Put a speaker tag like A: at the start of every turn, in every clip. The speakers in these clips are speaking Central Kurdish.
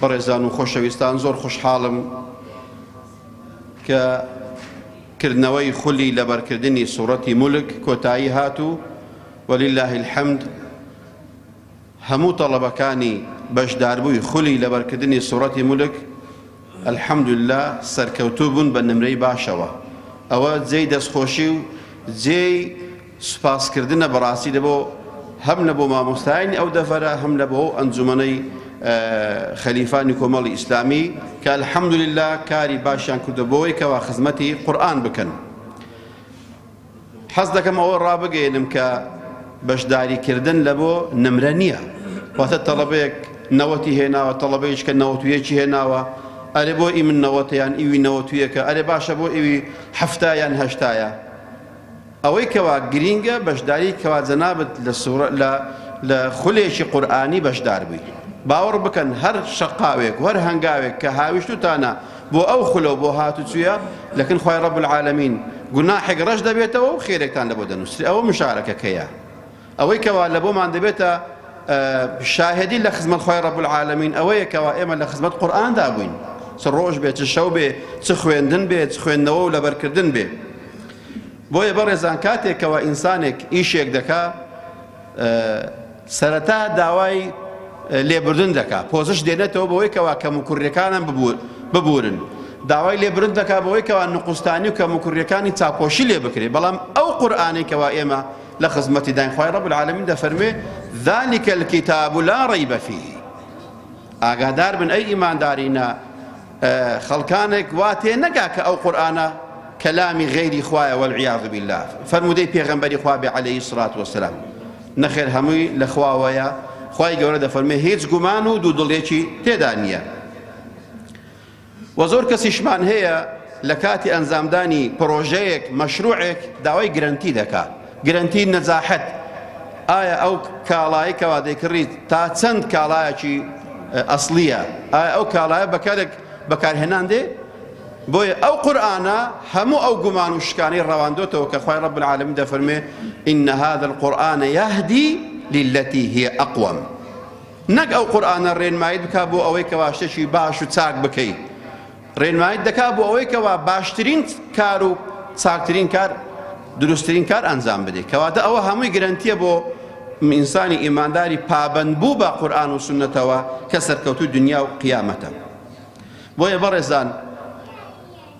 A: بەڕێزان و خۆشەویستان زۆر خوشحاڵم کە کردنەوەی خولی لەبەرکردنی سوڕەتی مولک کۆتایی هات و ولله الحمد هەموو تەڵەبەکانی بەشداربووی خولی لەبەرکردنی سوڕەتی مولک الحمدلله سەرکەوتوو بوون بە نمرەی باشەوە ئەوە جێی دەستخۆشی و جێی سوپاسکردنە بەڕاستی لەبۆ هەم لەبۆ مامۆستایانی ئەو دەڤەرە هەم لەبۆ ئەو ئەنجومەنەی خەلیفانی کۆمەڵی ئیسلامی کە الحەمدللە کاری باشیان کردو بۆی کەوا خزمەتی قورآن بکەن حەز دەکەم ئەوە ڕابگەێنم کە بەشداریکردن لە بۆ نمرە نییە واتە تەڵەبەیەک نەوەتی هێناوە تەڵەبەیش کە نەوەتویەکی هێناوە ئەرێ بۆ ئی من نەوەتیان ئیوی نەوەتویەکە ئەرێ باشە بۆ ئیوی هەفتایان هەشتایە ئەوەی کەوا گرینگە بەشداری کەوا جەنابت لە سورە لە لە خولێکی قورئانی بەشدار بووی باوەڕ بکەن هەر شەقاوێک و هەر هەنگاوێک کە هاویشتوتانە بۆ ئەو خولەو بۆ هاتوچویە لەکن خوای رب العالمین گوناحێک رەش دەبێتەوە و خێرێکتان لەبۆ دەنوسرێ ئەوە مشارەکەکەیە ئەوەی کەوا لە بۆمان دەبێتە شاهدی لە خزمەت خوای رب العالمین ئەوەیە کەوا ئێمە لە خزمەت قورئاندا بووین چ ڕۆژ بێ چ شەو بێ چ خوێندن بێ چ خوێندنەوە و لەبەرکردن بێ بۆیە بەڕێزان کاتێکەوە ئینسانێک ئیشێک دەکا سەرەتا داوای لێبردن دەکا پۆزش دێنێتەوە بەوەی کەوا کەم و کوڕیەکانم ببورن داوای لێبرن دەکا بەوەی کەوا نقستانی و کەم و کوڕیەکانی چاپۆشی لێ بکرێت بەڵام ئەو قورآانێکەوە ئێمە لە خزمەتی داین خوای رب العالمین دەفەرموێ ذلک الكتاب لا ریب فیه ئاگادار بن ئەی ئیماندارینە خەڵکانێک وا تێ نەگا کە ئەو قورآانە کەلامی غەیری خوایە والعیاذ بالله فەرمودەی پێغەمبەری خوا بێ عەلەیهی سڵات وەسەلام نەخێر هەمووی لە خواوەیە خوای گەورە دەفەرمێ هیچ گومان و دوو دڵێکی تێدا نییە وە زۆر کەسیشمان هەیە لە کاتی ئەنجامدانی پرۆژەیەک، مەشروعێک، داوای گرەنتی دەکا، گرەنتی نەجاحەت، ئایا ئەو کاڵایەی کەوا دەیکڕیت تا چەند کاڵایەکی ئەسڵیە، ئایا ئەو کاڵایە بە کەرک بەکارهێنان دێ؟ بۆیە ئەو قورئانە هەموو ئەو گومان و شکانەی ڕەواندۆتەوە کە خوای رب العالمین دەفەرموێ، ان هذا القرآن یهدی للتی هی اقوم. نەک ئەو قورئانە ڕێنماییت بکات بۆ ئەوەی کەوا شتێکی باش و چاک بکەیت، ڕێنماییت دەکات بۆ ئەوەی کەوا باشترین کار و چاکترین کار دروستترین کار ئەنجام بدەیت، کەواتە ئەوە هەمووی گرەنتییە بۆ ئینسانی ئیمانداری پابەندبوو بە قورئان و سوننەتەوە کە سەرکەوتووی دونیا و قیامەتە. بۆیە بەڕێزان،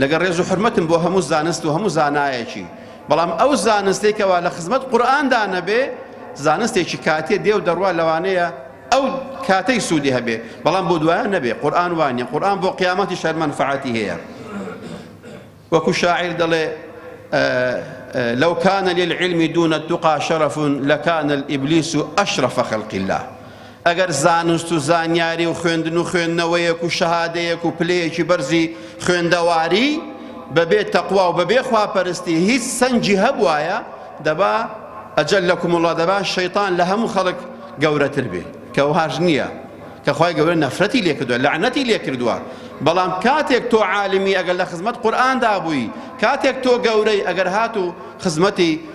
A: لەگەڵ ڕێز و حورمەتم بۆ هەموو زانست و هەموو زانایەکی بەڵام ئەو زانستەی کەوا لە خزمەت قورئاندا نەبێ زانستێکی کاتێ دێو دەڕوا لەوانەیە ئەو کاتەی سوودی هەبێ بەڵام بۆ دوایان نەبێ قورآن وانە قورآن بۆ قیامەتی شەر منفعەتی هەیە وەکو شاعیر دەڵێ لو كان للعلم دون التقى شرف لكان الإبليس أشرف خلق الله ئەگەر زانست و زانیاری و خوێندن و خوێندنەوەیەک و شەهادەیەک و پلەیەکی بەرزی خوێندەواری بەبێ تەقوا و بەبێ خواپەرستی هیچ سەنگی هەبوایە دەبا ئەجەل لەکم وڵا دەبا شەیتان لە هەموو خەڵک گەورەتر بێ کە وهاش نییە کە خی گەورە نەفرەتی لێکردووە لەعنەتی لێکردووە بەڵام کاتێک تۆ عالمی ئەگەر لە خزمەت قورآاندا بووی کاتێک تۆ گەورەی ئەگەر هات و خزمەتی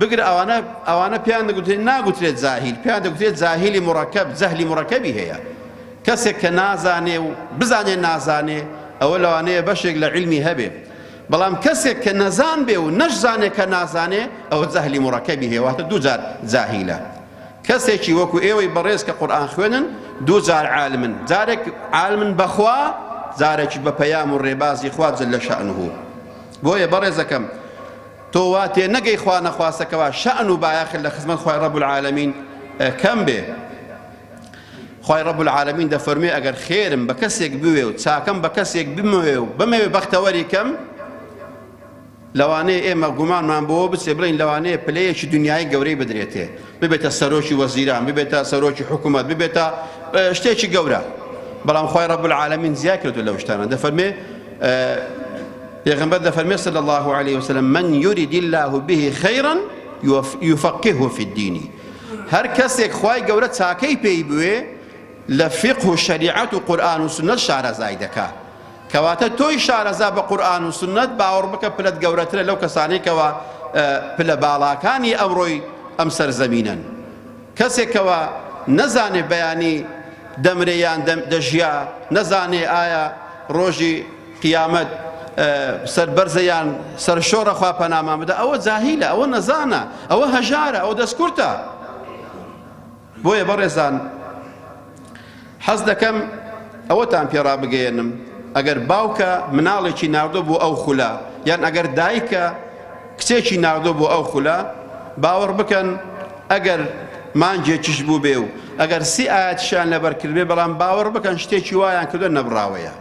A: بگرە ئەوانە ئەوانە پێیان دەگوترێت ناگوترێت زاهیل پێیان دەگوترێت زاهیلی مڕەکەب زەهلی مڕەکەبی هەیە کەسێک کە نازانێ و بزانێ نازانێ ئەوە لەوانەیە بەشێک لە علمی هەبێ بەڵام کەسێک کە نەزان بێ و نەشزانێ کە نازانێ ئەوە زەهلی مڕەکەبی هەیە واتە دووجار زاهیلە کەسێکی وەکو ئێوەی بەڕێز کە قورآان خوێنن دووجار عالمن جارێک عالمن بەخوا جارێکی بە پەیام و ڕێبازی خوا جل لە شەعنه بۆیە بەڕێزەکەم تۆ وا تێ نەگەی خوا نەخواستە کەوا شەئن و بایەخت لە خزمەت خوای رب العالمین کەم بێ خوای رب العالمین دەفەرموێ ئەگەر خێرم بە کەسێک بوێ و چاکەم بە کەسێک بموێ و بمەوێ بەختەوەری کەم لەوانەیە ئێمە گومانمان بۆ بچێ بڵین لەوانەیە پلەیەکی دنیای گەورەی بدرێتێ ببێتە سەرۆکی وەزیران ببێتە سەرۆکی حکومەت ببێتە شتێکی گەورە بەڵام خی ڕب العالمین زیای کردو لەو شتانە دەفەرمێ پێغمبەر دەفەرمێ صلی الله عليه وسلم من يريد الله به خيرا يفقهه في الدين هەر کەسێک خی گەورە چاکەی پێی بوێ لە فقه و شریعەت و قورآن و سنە شارەزای دەکات کەواتە تۆی شارەزا بە قورئان و سوننەت باوەڕ بکە پلەت گەورەترە لەو کەسانەی کەوا پلە باڵاکانی ئەمڕۆی ئەم سەر زەمینەن کەسێک کەوا نەزانێ بەیانی دەمرێ یان دەژیا نەزانێ ئایا ڕۆژی قیامەت سەربەرزە یان سەرشۆڕە خوا پەنامان بدە ئەوە جاهیلە ئەوە نەزانە ئەوە هەژارە ئەو دەستکورتە بۆیە بەڕێزان حەز دەکەم ئەوەتان پێ ڕابگەیەنم ئەگەر باوکە مناڵێکی ناردۆ بۆ ئەو خولە یان ئەگەر دایکە کچێکی ناردۆ بۆ ئەو خولە باوەڕ بکەن ئەگەر مانجێکیش بوو بێ و ئەگەر سی ئاەتشان لەبەرکردێ بەڵام باوەڕ بکەن شتێکی وایان کردو نەبراوەیە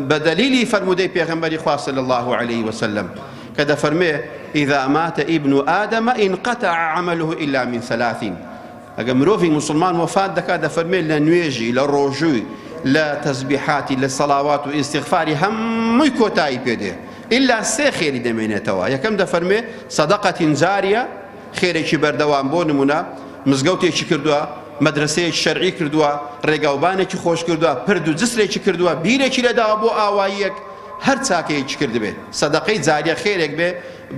A: بە دەلیلی فەرموودەی پێغەمبەری خوا صلی اللە علیه وسلم کە دەفەرمێ اذا مات ابن آدم انقطع عمله الا من ثلاثین ئەگە مرۆڤی مسلمان وەفات دەکات دەفەرمێ لە نوێژی لە ڕۆژووی لە تەزبیحاتی لە سەڵاوات و ئیسیغفاری هەمووی کۆتایی پێدێ ئللا سێ خێری دەمێنێتەوە یەکەم دەفەرمێ سەدەقەتین جاریە خێرێکی بەردەوام بۆ نموونە مزگەوتێکی کردووە، مەدرەسەیەکی شەرعی کردووە، ڕێگاوبانێکی خۆش کردووە، پرد و جسرێکی کردووە، بیرێکی لێداوە بۆ ئاواییەک، هەر چاکەیەکی کردبێ، سەدەقەی جاریە خێرێک بێ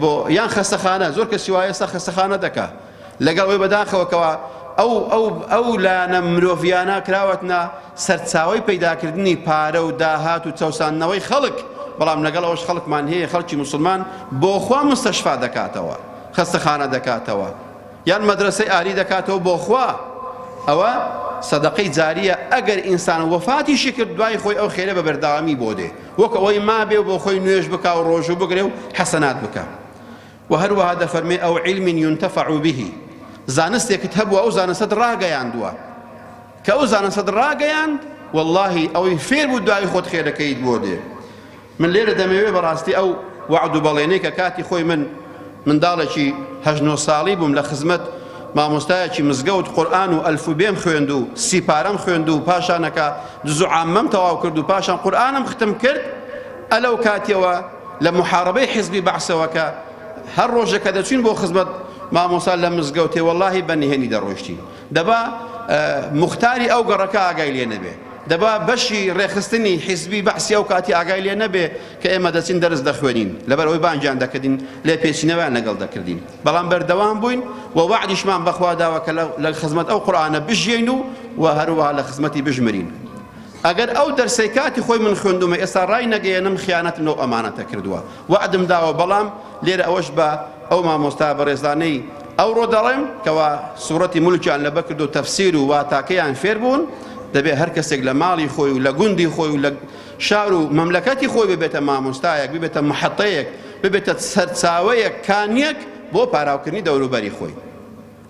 A: بۆ، یان خەستەخانە، زۆر کەسی وایە ئێستا خەستەخانە دەکا، لەگەڵ ئەوەی بەداخەوە کەوا ئەو ئەو ئەو لایەنە مرۆڤیانە کراوەتنە سەرچاوەی پەیداکردنی پارە و داهات و چەوساندنەوەی خەڵک، بەڵام لەگەڵ ئەوەش خەڵکمان هەیە خەڵکی موسڵمان بۆخوا مستەشفا دەکاتەوە. خەستەخانە دەکاتەوە یان مەدرەسەی ئاری دەکاتەوە بۆ خوا ئەوە سەدەقەی جاریە ئەگەر ئینسان وەفاتیشی کرد دوای خۆی ئەو خێرە بە بەردەوامی بۆ دێ وەک ئەوەی مابێ و بۆ خۆی نوێژ بک و ڕۆژوو بگرێ و حەسەنات بکە و هەروەها دەفەرمێ ئەو علم ينتفع به زانستێکت هەبوو ئەو زانستت ڕاگەیاندووە کە ئەو زانستت ڕاگەیاند واللهی ئەوەی فێر بوو دوای خۆت خێرەکەیت بۆ دێ من لێرە دەمەوێ بەڕاستی ئەو وەعد و بەڵێنەی کە کاتی خۆی من منداڵێکی هەژ نۆ ساڵی بووم لە خزمەت مامۆستایەکی مزگەوت قورآن و ئەلف و بێم خوێند و سیپارەم خوێند و پاشانەکە دزو عامەم تەواو کرد و پاشان قورآنم ختم کرد ئەلەو کاتیەوە لە محاربەی حزبی بەعسەوە کە هەر ڕۆژەکە دەچین بۆ خزمەت مامۆسا لە مزگەوتێ وەڵاهی بە نهێنی دەڕۆشتین دەبا موختاری ئەو گەڕەکە ئاگای لێ نەبێ، دەبا بەشی ڕێکخستنی حیزبی بەعسی ئەو کاتی ئاگای لێ نەبێ کە ئێمە دەچین دەرس دەخوێنین، لەبەر ئەوەی بانگیان دەکردین، لێپێچینەوەیان لەگەڵ دەکردین، بەڵام بەردەوام بووین و وەعدیشمان بە خوا داوە کە لە خزمەت ئەو قورئانە بژیین و و هەروەها لە خزمەتی بژمرین. ئەگەر ئەو دەرسەی کاتی خۆی من خوێندومە ئێستا ڕای نەگەیەنم خیانەتم لەو ئەمانەتە کردوە وەعدم داوە بەڵام لێرە ئەوەش بە ئەو مامۆستا بەڕێزانەی ئەوڕۆ دەڵێم کەوا سوڕەتی مولکیان لەبە کردو تەفسیر و واتاکەیان فێر بوون دەبێ هەر کەسێک لە ماڵی خۆی و لە گوندی خۆی و لە شار و مەملەکەتی خۆی ببێتە مامۆستایەک ببێتە محەتەیەک ببێتە سەرچاوەیەک کانیەک بۆ پاراوکردنی دەوروبەری خۆی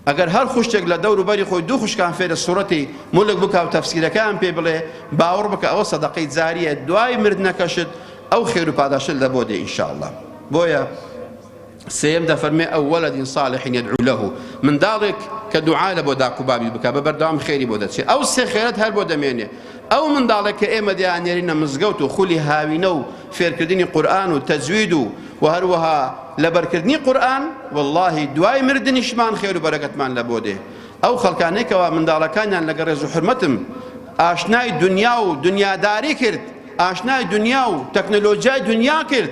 A: ئەگەر هەر خوشکێک لە دەور و بەری خۆی دوو خوشکان فێرە سورەتی، ملک، بکا و تەفسیرەکەیان پێ بڵێ، باوڕ بکە ئەوە سەدەقەی جاریە دوای مردنەکەشت ئەو خێر و پاداشتە لە بۆ دێ ان شاء اللە. بۆیە سێیەم دەفەرمێ او ولد صالح یدعو له منداڵێک کە دوعا لە بۆ داک و بابی بکا بە بەردەوام خێری بۆ دەچێ ئەو سێ خێرەت هەر بۆ دەمێنێ ئەو منداڵێک کە ئێمە دەیاننێرینە مزگەوت و خولی هاوینە و فێرکردنی قورئان و تەجوید و وە هەروەها لەبەرکردنی قورئان وەڵاهی دوای مردنیشمان خێر و بەرەکەتمان لە بۆ دێ ئەو خەڵکانەی کەوا منداڵەکانیان لەگە ڕێز و حورمەتم ئاشنای دنیا و دنیاداری کرد ئاشنای دنیا و تەکنەلۆجیای دنیا کرد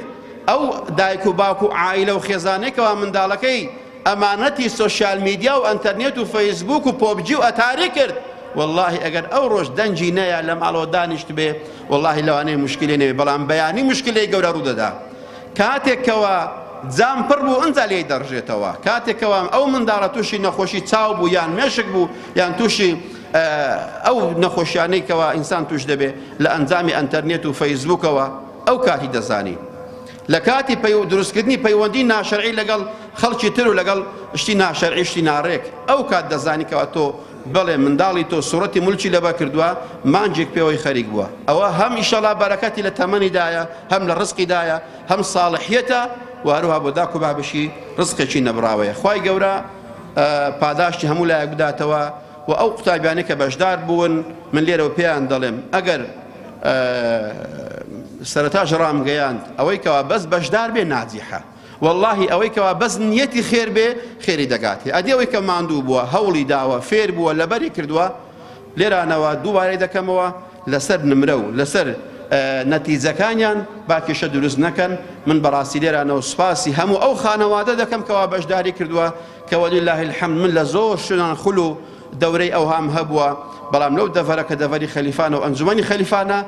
A: ئەو دایک و باوک و عائیلە و خێزانەی کەوا منداڵەکەی ئەمانەتی سۆشیال میدیا و ئەنتەرنێت و فەیسبووک و پۆبجی و ئەتاری کرد وەڵاهی ئەگەر ئەو ڕۆژ دەنگی نەیا لە ماڵەوە دانیشتبێ وەڵاهی لەوانەیە موشکیلەی نەبێ بەڵام بەیانی موشکیلەی گەورە ڕوودەدا کاتێک کەوا جام پڕ بوو ئەنجا لێی دەڕژێتەوە کاتێک کەوا ئەو منداڵە تووشی نەخۆشی چاو بوو یان مێشک بوو یان تووشی ئەو نەخۆشیانەی کەوا ئینسان توش دەبێ لە ئەنجامی ئەنتەرنێت و فەیسبووکەوە ئەو کاتی دەزانی لە کاتی پەیو دروستکردنی پەیوەندی ناشەرعی لەگەڵ خەڵکی تر و لەگەڵ شتی ناشەرعی شتی ناڕێک ئەو کات دەزانی کەوا تۆ بەڵێ منداڵی تۆ سوڕەتی ملکی لەبەر کردووە مانجێک پێوەی خەریک بووە ئەوە هەم ئیشەڵا بەرەکەتی لە تەمەنیدایە هەم لە ڕزقیدایە هەم ساڵحیەتە و هەروها بۆ داک و بابشی ڕزقێکی نەبڕاوەیە خوای گەورە پاداشتی هەموو لایەک بداتەوە وە ئەو قوتابیانەی کە بەشدار بوون من لێرەوە پێیان دەڵێم ئەگەر سەرەتاش ڕامگەیاند ئەوەی کەوا بەس بەشدار بێ ناجیحە واللهی ئەوەی کەوا بەس نیەتی خێر بێ خێری دەگاتێ ئەدی ئەوەی کە ماندوو بووە هەوڵی داوە فێر بووە لەبەری کردووە لێرانەوە دووبارەی دەکەمەوە لەسەر نمرە و لەسەر نەتیجەکانیان با کێشە دروست نەکەن من بەڕاستی لێرانەوە سوپاسی هەموو ئەو خانەوادە دەکەم کەوا بەشداری کردووە کە وللە الحمد من لە زۆر شوێنان خول و دەورەی ئەوهام هەبووە، بەڵام لەو دەڤەرە کە دەڤەری خەلیفانە و ئەنجومەنی خەلیفانە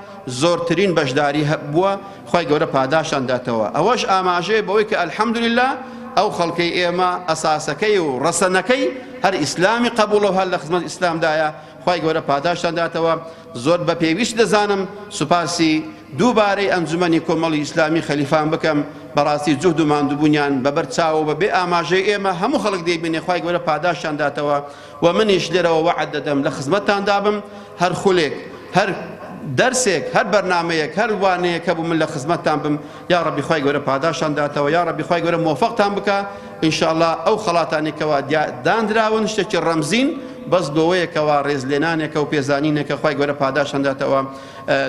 A: زۆرترین بەشداری بووە، خوای گەورە پاداشتان داتەوە، ئەوەش ئاماژەیە بەوەی کە الحمدللە ئەو خەڵکەی ئێمە ئەساسەکەی و ڕەسەنەکەی هەر ئیسلامی قەبوڵە و هەر لە خزمەت ئیسلامدایە، خوای گەورە پاداشتان داتەوە زۆر بە پێویست دەزانم سوپاسی دووبارەی ئەنجومەنی کۆمەڵی ئیسلامی خەلیفان بکەم بەڕاستی جوهد و ماندوبوونیان بەبەر چاوە بە بێ ئاماژەی ئێمە هەموو خەڵک دەیبینێ خوای گەورە پاداشتان داتەوە و منیش لێرەوە وەعد دەدەم لە خزمەتتان دابم هەر خولێک هەر دەرسێک هەر بەرنامەیەک هەر وانەیەک هەبوو من لە خزمەتتان بم یاڕەبی خوای گەورە پاداشتان داتەوە یاڕەبی خوای گەورە مۆفەقتان بکە ئینشاءاللە ئەو خەڵاتانی کەوا دانراون شتێکی ڕەمزین بەس گۆوەیەکەوە ڕێزلێنانێکە و پێزانینێکە خوای گەورە پاداشتان داتەوە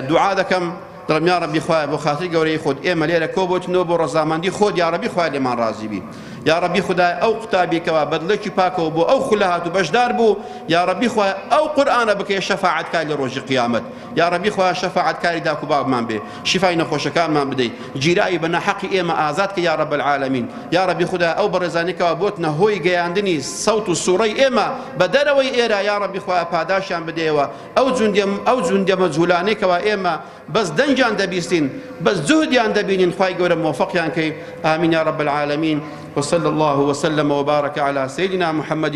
A: دوعا دەکەم دڵم یا ڕەبی خوایە بۆ خاتری گەورەی خۆت ئێمە لێرە کۆ بۆتنەوە بۆ ڕەزامەندی خۆت یا ڕەبی خوای لێمان ڕازی بی یا ڕەبی خدای ئەو قوتابیکەوە بەدڵێکی پاکەوە بۆ ئەو خولە هات و بەشدار بوو یا ڕەبی خوای ئەو قورآانە بکەی شەفاعتکای لە ڕۆژی قیامەت یاڕەبی خوایە شەفاعەت کاری داکو باوکمان بێ شیفای نەخۆشەکانمان بدەی گیراوی بە ناحەقی ئێمە ئازاد کە یاڕەب العالمین یاڕەبی خودایە ئەو بەڕێزانەی کەوا بۆتنە هۆی گەیاندنی سەوت و سوڕەی ئێمە بە دەرەوەی ئێرە یاڕەبی خوایە پاداشیان بدەیەوە ئەو جوندە ئەو جوندە مەجهولانەی کەوا ئێمە بەس دەنگیان دەبیستین بەس جهدیان دەبینین خوای گەورە مۆفەقیان کەی ئامین یاڕەب العالمین وصلى الله وسلم وبارك على سيدنا محمد